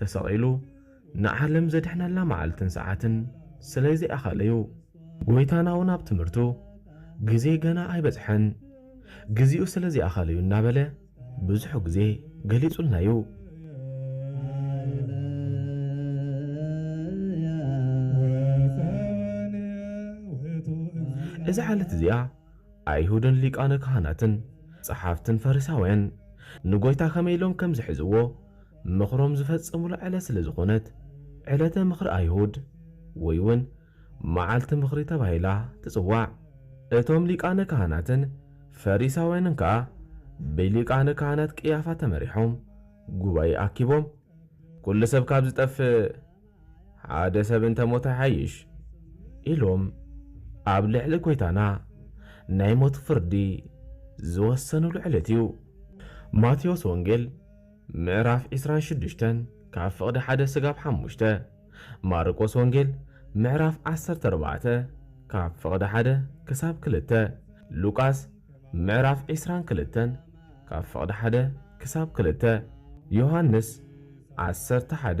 ተሰቒሉ ንዓለም ዘድሕነላ መዓልትን ሰዓትን ስለ ዘይኣኸለ እዩ። ጐይታናውን ኣብ ትምህርቱ ግዜይ ገና ኣይበጽሐን፣ ግዜኡ ስለ ዘይኣኸለ እዩ እናበለ ብዙሕ ግዜ ገሊጹልና እዩ። እዛ ዓለት እዚኣ ኣይሁድን ሊቃነ ካህናትን ጸሓፍትን ፈሪሳውያን ንጐይታ ከመይ ኢሎም ከም ዝሕዝዎ ምኽሮም ዝፈጸሙላ ዕለት ስለ ዝኾነት ዕለተ ምኽሪ ኣይሁድ ወይ ውን መዓልቲ ምኽሪ ተባሂላ ትጽዋዕ። እቶም ሊቃነ ካህናትን ፈሪሳውያንን ከኣ ብሊቃነ ካህናት ቅያፋ ተመሪሖም ጉባኤ ኣኪቦም ኵሉ ሰብ ካብ ዝጠፍእ ሓደ ሰብ እንተ ሞተ ይሓይሽ ኢሎም ኣብ ልዕሊ ጐይታና ናይ ሞት ፍርዲ ዝወሰኑሉ ዕለት እዩ። ማቴዎስ ወንጌል ምዕራፍ ዕስራን ሽዱሽተን ካብ ፍቕዲ ሓደ ስጋብ ሓሙሽተ፣ ማርቆስ ወንጌል ምዕራፍ ዓሰርተ ኣርባዕተ ካብ ፍቕዲ ሓደ ክሳብ ክልተ፣ ሉቃስ ምዕራፍ ዕስራን ክልተን ካብ ፍቕዲ ሓደ ክሳብ ክልተ፣ ዮሃንስ ዓሰርተ ሓደ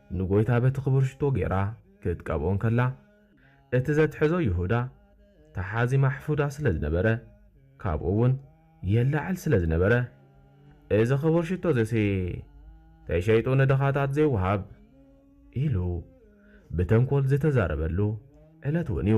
ንጐይታ በቲ ኽቡር ሽቶ ገይራ ኽትቀብኦ እንከላ፣ እቲ ዘትሐዞ ይሁዳ፣ ተሓዚ ማሕፉዳ ስለ ዝነበረ፣ ካብኡውን የላዕል ስለ ዝነበረ፣ እዚ ኽቡር ሽቶ እዚሲ፣ ተሸይጡ ንድኻታት ዜውሃብ፣ ኢሉ ብተንኰል ዝተዛረበሉ ዕለትውን እዩ።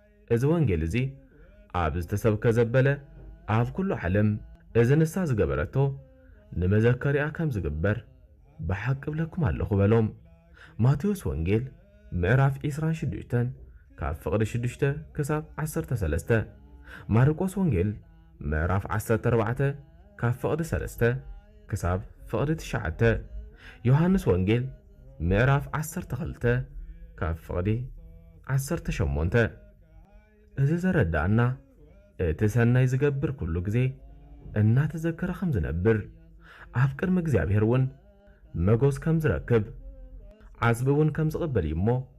እዚ ወንጌል እዚ ኣብ ዝተሰብከ ዘበለ ኣብ ኩሉ ዓለም እዚ ንሳ ዝገበረቶ ንመዘከሪኣ ከም ዝግበር ብሓቂ እብለኩም ኣለኹ በሎም። ማቴዎስ ወንጌል ምዕራፍ ዕስራን ሽዱሽተን ካብ ፍቕዲ ሽዱሽተ ክሳብ ዓሰርተ ሰለስተ ማርቆስ ወንጌል ምዕራፍ ዓሰርተ ኣርባዕተ ካብ ፍቕዲ ሰለስተ ክሳብ ፍቕዲ ትሽዓተ ዮሃንስ ወንጌል ምዕራፍ ዓሰርተ ክልተ ካብ ፍቕዲ ዓሰርተ ሸሞንተ እዚ ዘረድኣና እቲ ሰናይ ዝገብር ኩሉ ግዜ እናተዘከረ ከም ዝነብር ኣብ ቅድሚ እግዚኣብሔር እውን መጎስ ከም ዝረክብ ዓስቢ እውን ከም ዝቕበል እዩ እሞ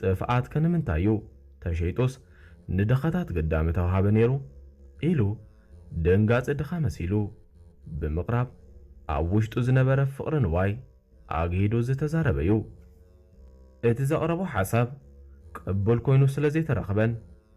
ጥፍኣት ከ ንምንታይ እዩ ተሸይጡስ ንድኻታት ግዳ ምተውሃበ ነይሩ ኢሉ ደንጋጺ ድኻ መሲሉ ብምቕራብ ኣብ ውሽጡ ዝነበረ ፍቕሪ ንዋይ ኣግሂዱ ዝተዛረበ እዩ። እቲ ዘቕረቦ ሓሳብ ቅቡል ኮይኑ ስለዘይተረኽበን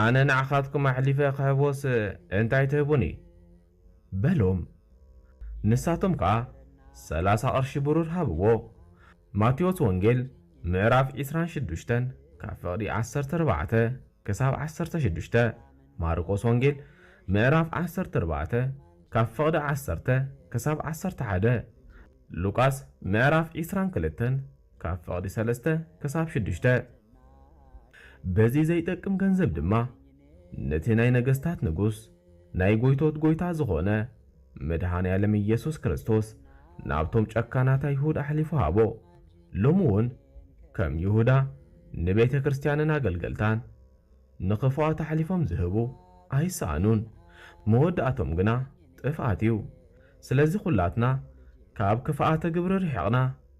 ኣነ ንዓኻትኩም ኣሕሊፈ ኽህቦስ እንታይ ትህቡኒ? በሎም። ንሳቶም ከኣ ሰላሳ ቕርሺ ብሩር ሃብዎ። ማቴዎስ ወንጌል ምዕራፍ ዕስራን ሽዱሽተን ካብ ፍቕዲ ዓሰርተ ኣርባዕተ ክሳብ ዓሰርተ ሽዱሽተ፣ ማርቆስ ወንጌል ምዕራፍ ዓሰርተ ኣርባዕተ ካብ ፍቕዲ ዓሰርተ ክሳብ ዓሰርተ ሓደ፣ ሉቃስ ምዕራፍ ዕስራን ክልተን ካብ ፍቕዲ ሰለስተ ክሳብ ሽዱሽተ። በዚ ዘይጠቅም ገንዘብ ድማ ነቲ ናይ ነገስታት ንጉስ ናይ ጎይቶት ጎይታ ዝኾነ መድኃኔዓለም ኢየሱስ ክርስቶስ ናብቶም ጨካናት ኣይሁድ ኣሕሊፉ ሃቦ። ሎሚ ውን ከም ይሁዳ ንቤተ ክርስቲያንን ኣገልገልታን ንኽፉኣት ኣሕሊፎም ዝህቡ ኣይሰኣኑን። መወዳእቶም ግና ጥፍኣት እዩ። ስለዚ ኩላትና ካብ ክፍኣተ ግብሪ ርሒቕና፣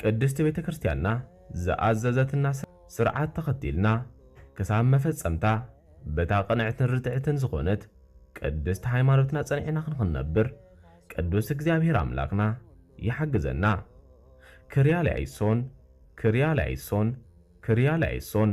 ቅድስቲ ቤተ ክርስቲያንና ዝኣዘዘትና ስርዓት ተኸቲልና ክሳብ መፈጸምታ በታ ቅንዕትን ርትዕትን ዝኾነት ቅድስት ሃይማኖትና ጸኒዕና ክንክንነብር ቅዱስ እግዚኣብሔር ኣምላክና ይሓግዘና። ክርያላይሶን ክርያላይሶን ክርያላይሶን።